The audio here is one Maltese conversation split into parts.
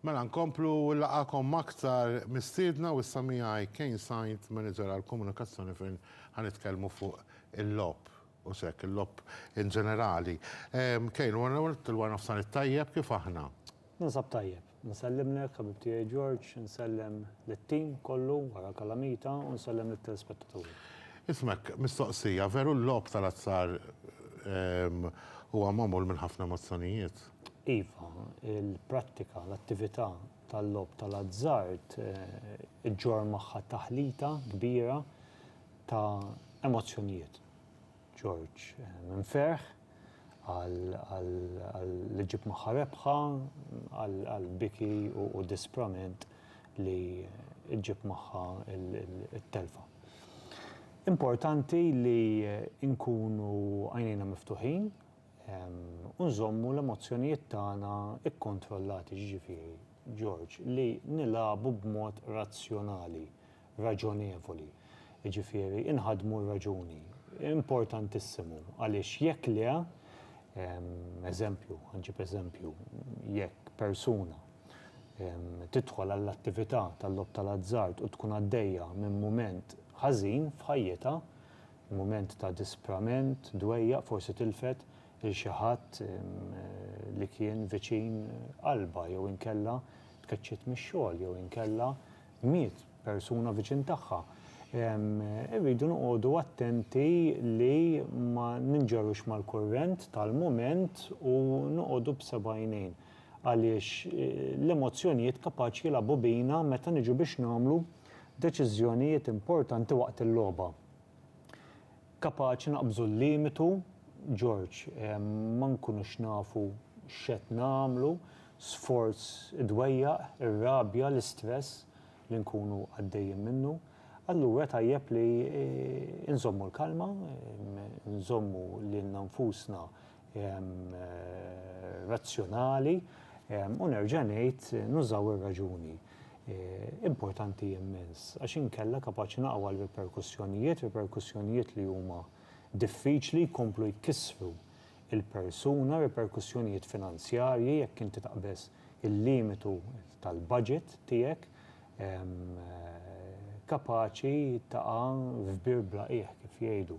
Mela nkomplu u nlaqgħakom m'aktar mistiedna u issa miegħi Kane Sainz, Manager għall-Komunikazzjoni fejn ħa nitkellmu fuq il-logħob u s'hekk, il-logħob in ġenerali. Kane, wara l-ewwel nett il-Wara Nofsnar it-tajjeb, kif aħna? Ninsab tajjeb. Nsellimlek ħabib tiegħi George, insellem lit-team kollu wara Calamita u nsellem lit-telespettaturi. Ismek, mistoqsija, veru l-logħob tal-azzar huwa magħmul minn ħafna emozzjonijiet? Iva, il-prattika, l-attività tal-logħob tal-azzard iġġorr magħha taħlita kbira ta' emozzjonijiet. Ġorġ, minn ferħ li ġġib magħha rebħa għal biki u disprament li ġġib magħha t-telfa. Importanti li nkunu għajnejna miftuħin. u nżommu l-emozzjonijiet tagħna kkontrollati, jiġifieri, George, li nilagħbu b'mod razzjonali, raġonevoli, jiġifieri inħaddmu r-raġuni. Importantissimu, għaliex jekk le, eżempju, ħanġib eżempju, jekk persuna tidħol għall-attività tal-logħob tal-azzard u tkun għaddejja minn mument ħażin f'ħajjitha, Mument ta' disprament, dwejjaq, forsi tilfet 'il xi ħadd li kien viċin qalbha jew inkella tkeċċiet mix-xogħol jew inkella miet persuna viċin tagħha. Irridu noqogħdu attenti li ma ninġarux mal-kurrent tal-mument u noqogħdu b'seb'għajnejn għaliex l-emozzjonijiet kapaċi jilagħbu bina meta niġu biex nagħmlu deċiżjonijiet importanti waqt il-logħba. Kapaċi naqbżu l-limitu, George, ma nkunux nafu x'qed nagħmlu, sforz idwejjaq, ir-rabja, l-istress li nkunu għaddejjin minnu. Allura tajjeb li nżommu l-kalma, nżommu lilna nfusna razzjonali u nerġa' ngħid nużaw ir-raġuni. Importanti immens, għax inkella kapaċi naqgħu għal riperkussjonijiet, riperkussjonijiet li huma diffiċli jkomplu jkissru il-persuna, riperkussjonijiet finanzjarji jekk inti taqbeż il-limitu tal-budget tiegħek kapaċi taqa' f'bir bla qiegħ kif jgħidu.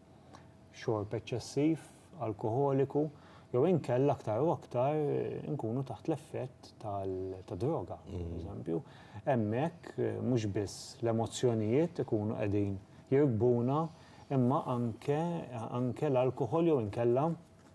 xorb eċċessiv alkoħoliku jew inkella aktar u aktar nkunu taħt l-effett tad-droga, pereżempju. Hemmhekk mhux biss l-emozzjonijiet ikunu qegħdin jirkbuna imma anke anke l-alkoħol jew inkella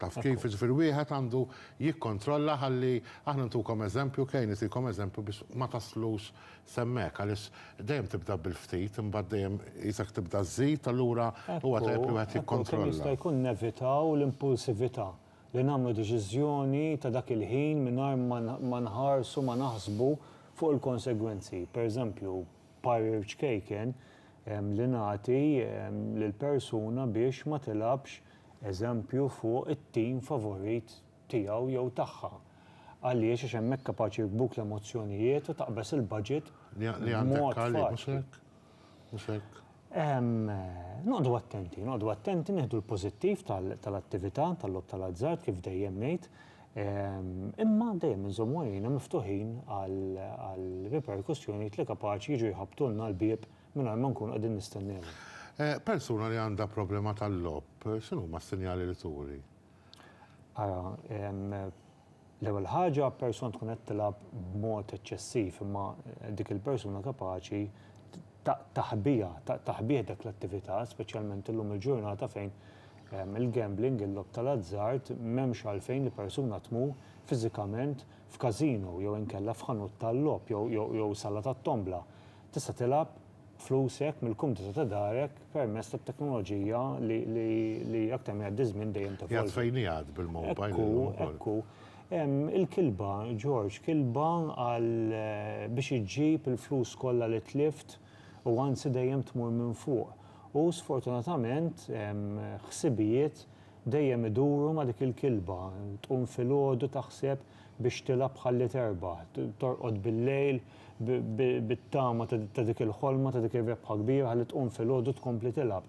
Taf kif, jiġifieri wieħed għandu jikkontrolla ħalli aħna ntukom eżempju, Kane jtikom eżempju biex ma taslux s'hemmhekk għaliex dejjem tibda bil-ftit imbagħad dejjem qisek tibda żżid allura huwa tajjeb li wieħed jikkontrolla. Kemm jista' jkun nevitaw l-impulsività, li nagħmlu deċiżjoni ta' dak il-ħin mingħajr ma nħarsu ma naħsbu fuq il-konsegwenzi. Pereżempju, parir ċkejken li nagħti lil persuna biex ma tilgħabx eżempju fuq it-tim favorit tiegħu jew tagħha. Għaliex għax hemmhekk kapaċi jirkbuk l-emozzjonijiet u taqbeż il-budget b'mod faċli. Noqogħdu attenti, noqogħdu attenti nieħdu l-pożittiv tal-attività tal-logħob tal-azzard kif dejjem ngħid, imma dejjem inżommu għajnejna miftuħin għal riperkussjonijiet li kapaċi jiġu jħabbtulna l-bieb mingħajr ma nkunu qegħdin nistennewhom. Persuna li għandha problema tal-logħob x'inhuma s-sinjali li turi? Ara, L-ewwel ħaġa, persuna tkun qed tilgħab b'mod eċċessiv imma dik il-persuna kapaċi taħbiha, taħbih dak l-attività, speċjalment illum il-ġurnata fejn il-gambling, il-logħob tal-azzard, m'hemmx għalfejn li persuna tmur fiżikament f'casino jew inkella f'ħanut tal-logħob jew sala tat-tombla. Tista' tilgħab flusek mill-kumdità ta' darek permezz tat-teknoloġija li aktar ma jgħaddi ż-żmien dejjem tevolvi. Qiegħed fejn qiegħed bil-mowbajl illum ukoll. Ekku, ekku. Il-kilba, Ġorġ, kilba għal biex iġġib il-flus kollha li tlift u anzi dejjem tmur minn fuq. U sfortunatament ħsibijiet dejjem iduru ma' dik il-kilba. Tqum filgħodu taħseb biex tilgħab ħalli terbaħ, torqod bil-lejl bit-tama ta' dik il-ħolma, ta' dik ir-rebħa kbira ħalli tqum filgħodu tkompli tilgħab.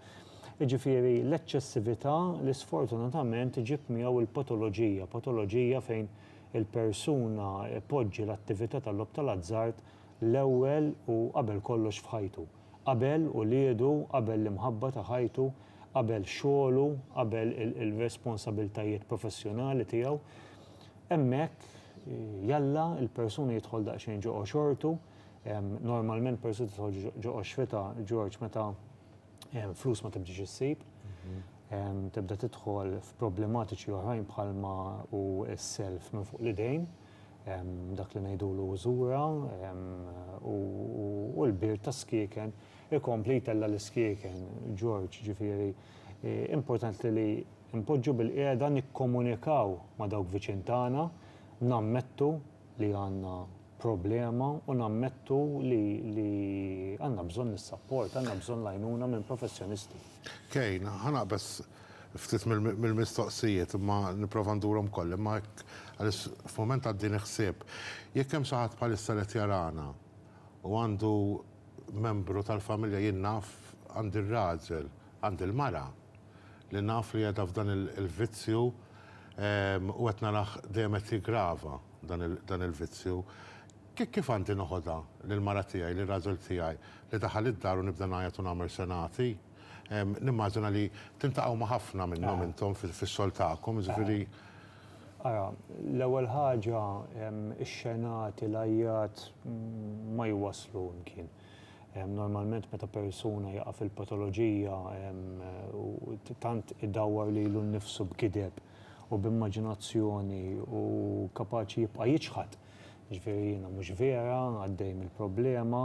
Jiġifieri l-eċċessività li sfortunatament iġib miegħu l-patoloġija, patoloġija fejn il-persuna ipoġġi l-attività tal-logħob tal-azzard l-ewwel u qabel kollox f'ħajtu. Qabel uliedu, qabel l-imħabba ta' ħajtu, qabel xogħlu, qabel ir-responsabiltajiet professjonali tiegħu. Hemmhekk, jalla, il-persuna jidħol daqsxejn ġo għoxortu, normalment persuna tidħol ġo għoxrita, George, meta flus ma tibdiex issib, tibda tidħol f'problematiċi oħrajn bħalma hu s-self minn fuq l-idejn, dak li ngħidulu użura, u l-birt ta' skieken ikompli jtella' l-iskieken, George, ġifieri, importanti li, Inpoġġu bilqiegħda nikkomunikaw ma' dawk viċin tagħna, nammettu li għandna problema u nammettu li li għandna bżonn is-sapport, għandna bżonn l-għajnuna minn professjonisti. Kejn, ħa naqbeż ftit mill-mistoqsijiet imma nipprova ndurhom ukoll, imma hekk għaliex f'mument għaddini ħsieb. Jekk hemm xi ħadd bħalissa li qed jarana u għandu membru tal-familja, jien naf għandi r-raġel, għandi l-mara, li naf li qiegħda f'dan il-vizzju u qed narah dejjem qed jiggrava dan il-vizzju. Kif għandi noħodha lill-mara tiegħi, lir-raġel tiegħi li daħal id-dar u nibda ngħajjat u nagħmel senati? Nimmaġina li tiltaqgħu ma' ħafna minnhom intom fix-xogħol tagħkom, jiġifieri. Ara, l-ewwel ħaġa, ix-xenati, l-għajjat ma jwasslu imkien. Normalment meta persuna jaqa' fil-patoloġija u tant idawwar lilu nnifsu b'gideb u b'immaġinazzjoni hu kapaċi jibqa' jiċħad, jiġifieri jiena mhux vera, għaddej mill-problema,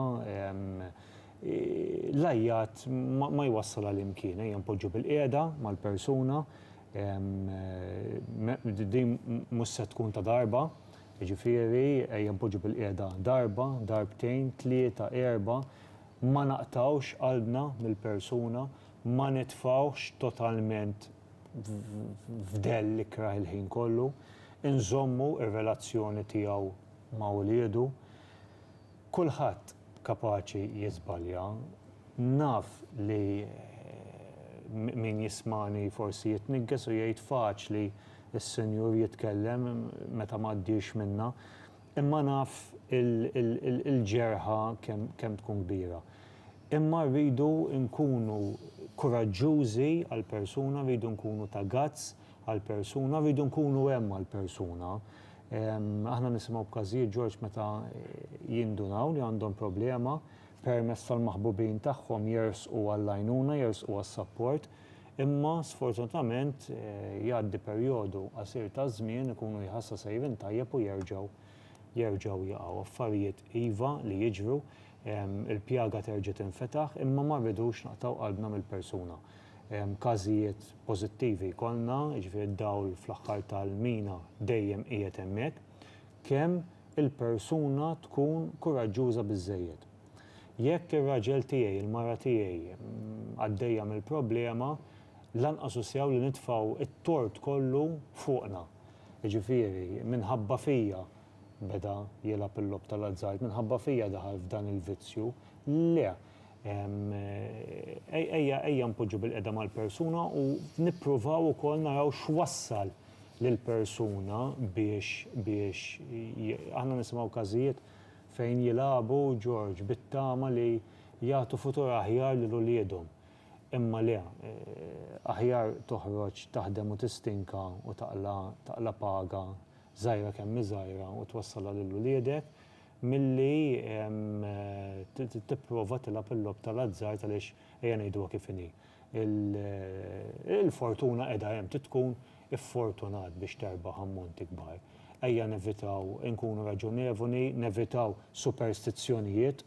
l-għajjat ma jwassal għal imkien, ejja npoġġu bilqiegħda mal-persuna, Din mhux se tkun ta' darba, jiġifieri ejja npoġġu bil-qiegħda darba, darbtejn, tlieta, erbgħa, ma naqtgħux qalbna mill-persuna, ma nitfgħuhx totalment f'dell ikrah il-ħin kollu, inżommu r-relazzjoni tiegħu ma' uliedu. Kulħadd kapaċi jiżbalja. Naf li min jismagħni forsi jitniggeż u jgħid faċli s-Sinjur jitkellem meta m'għaddiex minnha. Imma naf il-ġerħa kemm tkun kbira. Imma rridu nkunu kuraġġużi għall-persuna, rridu nkunu ta' guts, għall-persuna, rridu nkunu hemm għall-persuna. Aħna nisimgħu b'każijiet Ġorġ meta jindunaw li għandhom problema, permezz tal-maħbubin tagħhom jersqu għall-għajnuna, jersqu għas-sapport, imma sfortunatament jgħaddi perjodu qasir ta' żmien, ikunu jħassa sejrin tajjeb u jerġgħu jerġgħu jaqgħu. Affarijiet iva li jiġru, il-pjaga terġa' tinfetaħ, imma ma rridux naqtgħu qalbna mill-persuna. każijiet pożittivi jkollna, jiġifieri d-dawl fl-aħħar tal-mina dejjem qiegħed hemmhekk, kemm il-persuna tkun kuraġġuża biżżejjed. Jekk ir-raġel tiegħi, il-mara tiegħi għaddejja mill-problema, lanqas hu sew li nitfgħu t-tort kollu fuqna. Jiġifieri, minħabba fija beda jilgħab il-logħob tal-azzard, minħabba fija daħal f'dan il-vizzju. Le! Ejja npoġġu bilqiegħda mal-persuna u nippruvaw ukoll naraw x'wassal lill-persuna biex aħna nisimgħu każijiet fejn jilagħbu Ġorġ bit-tama li jagħtu futur aħjar lil uliedhom. Imma le, aħjar toħroġ taħdem u tistinka u taqla' paga żgħira kemm hi żgħira u twassalha lil uliedek, milli tipprova tilgħab il-logħob tal-azzard għaliex ejja ngħiduha kif inhi, il-fortuna qiegħda hemm, trid tkun iffortunat biex terbaħ ammonti kbar. Ejja nevitaw inkunu raġonevoli, nevitaw superstizzjonijiet,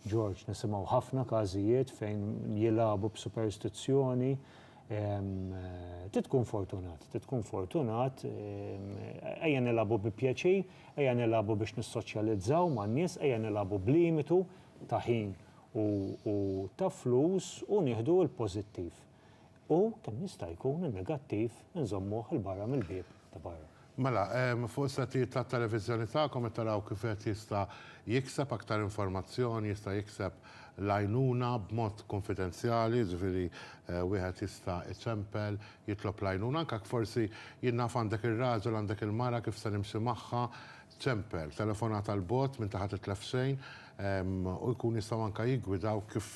George, nisimgħu ħafna każijiet fejn jilagħbu b'superstizzjoni, trid tkun fortunat, trid tkun fortunat, ejja nilagħbu bi pjaċir, Ejja nilagħbu biex nissoċjalizzaw man-nies, ejja nilagħbu b'limitu ta' ħin u u ta' flus u nieħdu l-pożittiv. U, kemm jista' jkun, in-negattiv inżommuh 'il barra mill-bieb ta' barra. Mela, fuq is-settijiet tat-televiżjoni tagħkom qed taraw kif wieħed jista' jikseb aktar informazzjoni, jista' jikseb l-għajnuna b'mod kunfidenzjali, jiġifieri wieħed jista' iċempel Jitlob l-għajnuna anke jekk forsi jien naf għandek ir-raġel, għandek il-mara, kif se nimxi magħha, ċempel, telefonata 'l bogħod m'inti ħa titlef xejn, u jkun jistgħu anke jiggwidawk kif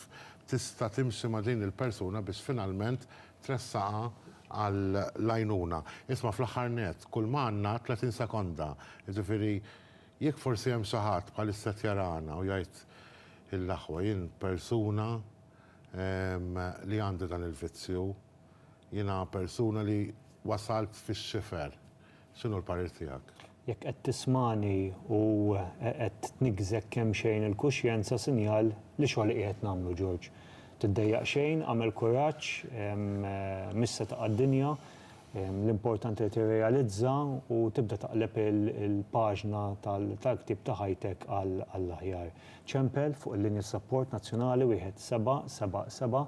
tista' timxi ma' din il-persuna biex finalment tressaqha għall-għajnuna. Isma' fl-aħħar nett, kulma għandna 30 sekonda, jiġifieri jekk forsi hemm xi ħadd bħalissa qed jarana u jgħid ill'aħwa jien persuna li għandi dan il-vizzju, Jiena persuna li wasalt fix-xifer. X'inhu l-parir tiegħek? Jekk qed tismagħni u qed tniggżek kemxejn il-kuxjenza sinjal li xogħol qiegħed nagħmlu George. Tiddejjaq xejn, agħmel kuraġġ, mhix se taqa' d-dinja. L-importanti li tirrealizza u tibda taqleb il-paġna tal-ktieb ta' ħajtek għall-aħjar. Ċempel fuq il-linja sapport nazzjonali wieħed seba' seba' seba'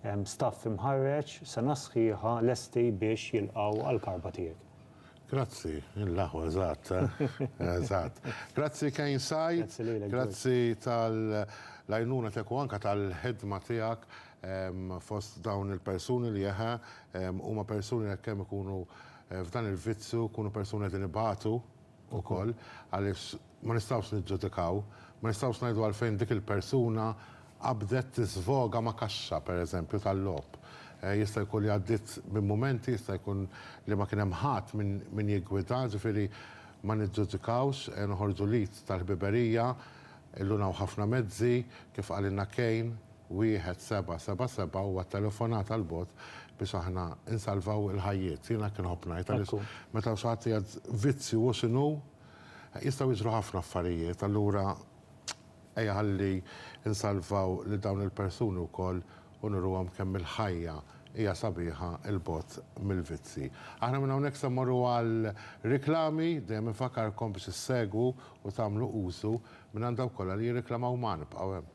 Hemm staff imħarreġ, sena sħiħa lesti biex jilqgħu għall-karba tiegħek. Grazzi, l-aħwa eżatt, eżatt. Grazzi Kane Sajt. Grazzi lilek, George. Grazzi tal-għajnuna tiegħek u anke tal-ħidma tiegħek fost dawn il-persuni li eħe, huma persuni li hekk kemm ikunu f'dan il-vizzju, jkunu persuni li qegħdin ibatu. ukoll għaliex ma nistgħux niġġudikaw, ma nistgħux ngħidu għalfejn dik il-persuna qabdet tiżvoga ma' kaxxa, pereżempju, tal-logħob. Jista' jkun li għaddiet minn mumenti, jista' jkun li ma kien hemm ħadd min jiggwida, ġifieri ma niġġudikawx, noħorġu l-id tal-ħbiberija, illuna hawn ħafna mezzi, kif qalilna Kane, Wieħed seba' seba' seba' huwa t-telefonat għal bogħod biex aħna nsalvaw il-ħajjiet. Jien hekk inħobb ngħid għaliex meta xi ħadd qiegħed vizzju hu x'inhu, jistgħu jiġru ħafna affarijiet. Allura ejja ħalli nsalvaw lil dawn il-persuni wkoll u nuruhom kemm il-ħajja hija sabiħa 'l bogħod mill-vizzji. Aħna minn hawnhekk se mmorru għal riklami, dejjem infakkarkom biex issegwu u tagħmlu użu minn għand dawk kollha li jirriklamaw magħna. Ibqgħu hemm.